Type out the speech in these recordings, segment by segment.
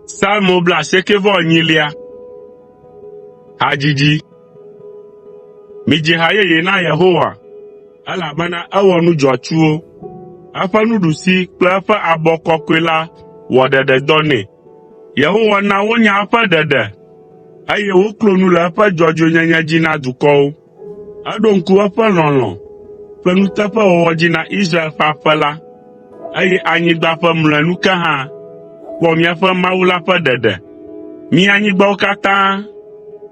Salmo blaasieke vɔ enyilia. Hadzidzi. Midzi ha yeye na Yehowa, elabena ewɔ nu dzɔatsuwo. Eƒe nuɖusi kple eƒe abɔ kɔkɔe la wɔ ɖeɖe dɔ nɛ. Yehowa na wonya eƒe ɖeɖe, eye woklo nu le eƒe dzɔdzɔenyenye dzi na dukɔwo. Eɖo ŋku eƒe lɔlɔ̃ ƒe nuteƒewɔwɔ dzi na Israel ƒe aƒe la, eye anyigba ƒe mlɔenu ke hã kpɔ míaƒe Mawu la ƒe ɖeɖe. Mi anyigbawo katã,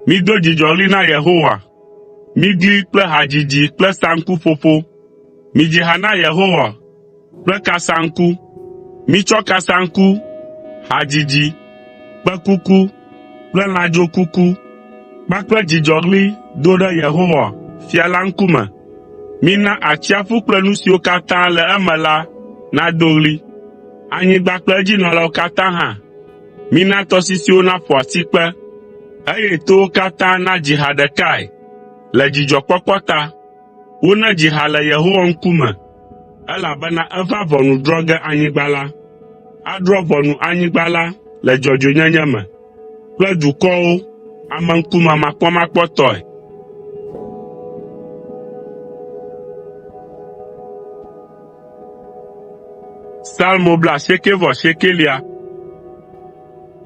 mido dzidzɔɣli na Yehowa, migli kple hadzidzi kple saŋkuƒoƒo. Midzi ha na Yehowa, kple kasaŋku. Mitsɔ kasaŋku, hadzidzi, kpẽkuku kple lãdzokuku kpakple dzidzɔɣli do ɖe Yehowa, Fia la ŋkume. Mina atsiaƒu kple nu siwo katã le eme la nado ɣli. Anyigba kple edzinɔlawo katã hã. Mina tɔsisiwo naƒo asikpe, eye towo katã nadzi ha ɖekae le dzidzɔkpɔkpɔ ta. Wona dzi ha le Yehowa ŋkume, elabena eva ʋɔnu drɔ̃ ge anyigba la. Adrɔ̃ ʋɔnu anyigba la le dzɔdzɔenyenye me kple dukɔwo ameŋkumemakpɔmakpɔtɔe. Salmo blaasiekɛ-vɔ-asiekɛlia.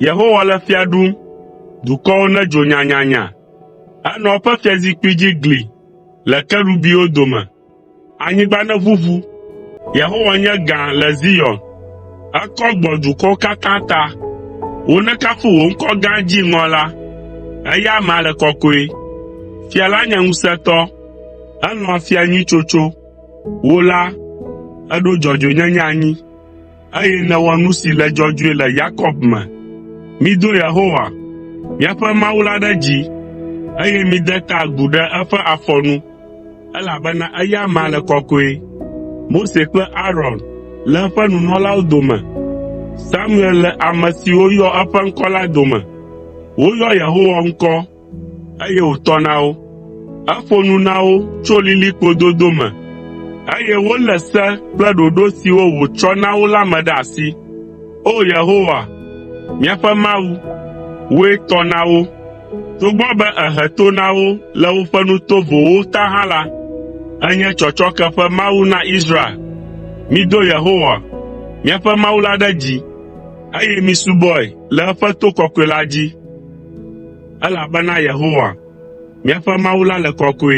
Yehowa le fia ɖum, dukɔwo nedzo nyanyanya. Enɔ eƒe fiazikpui dzi gli le kerubiwo dome. Anyigba neʋuʋu. Yehowa nye gã le Zion. Ekɔ gbɔ dukɔwo katã ta. Wonekafu wò ŋkɔ gã dziŋɔ la. Eya amea le kɔkɔe. Fia la nye ŋusẽtɔ. Elɔ̃a fia nyui tsotso. Wò la, èɖo dzɔdzɔenyenye anyi. eye nèwɔ nu si le dzɔdzɔe le Yakob me. Mido Yehowa, míaƒe Mawu la ɖe dzi, eye mide ta agu ɖe eƒe afɔ nu, elabena eya amea le kɔkɔe. Mose kple Aron le eƒe nunɔlawo dome, Samuel le ame siwo yɔ eƒe ŋkɔ la dome. Woyɔ Yehowa ŋkɔ eye wòtɔ na wo. Eƒo nu na wo tso lilikpo dodo me, eye wolé se kple ɖoɖo siwo wòtsɔ na wo la me ɖe asi. O Yehowa, míaƒe Mawu, wòe tɔ na wo. Togbɔ be èhe to na wo le woƒe nu tovowo ta hã la, ènye tsɔtsɔke ƒe Mawu na Israel. Mido Yehowa, míaƒe Mawu la ɖe dzi, eye misubɔe le eƒe to kɔkɔe la dzi. “Elabena Yehowa, míaƒe Mawu la le kɔkɔe.”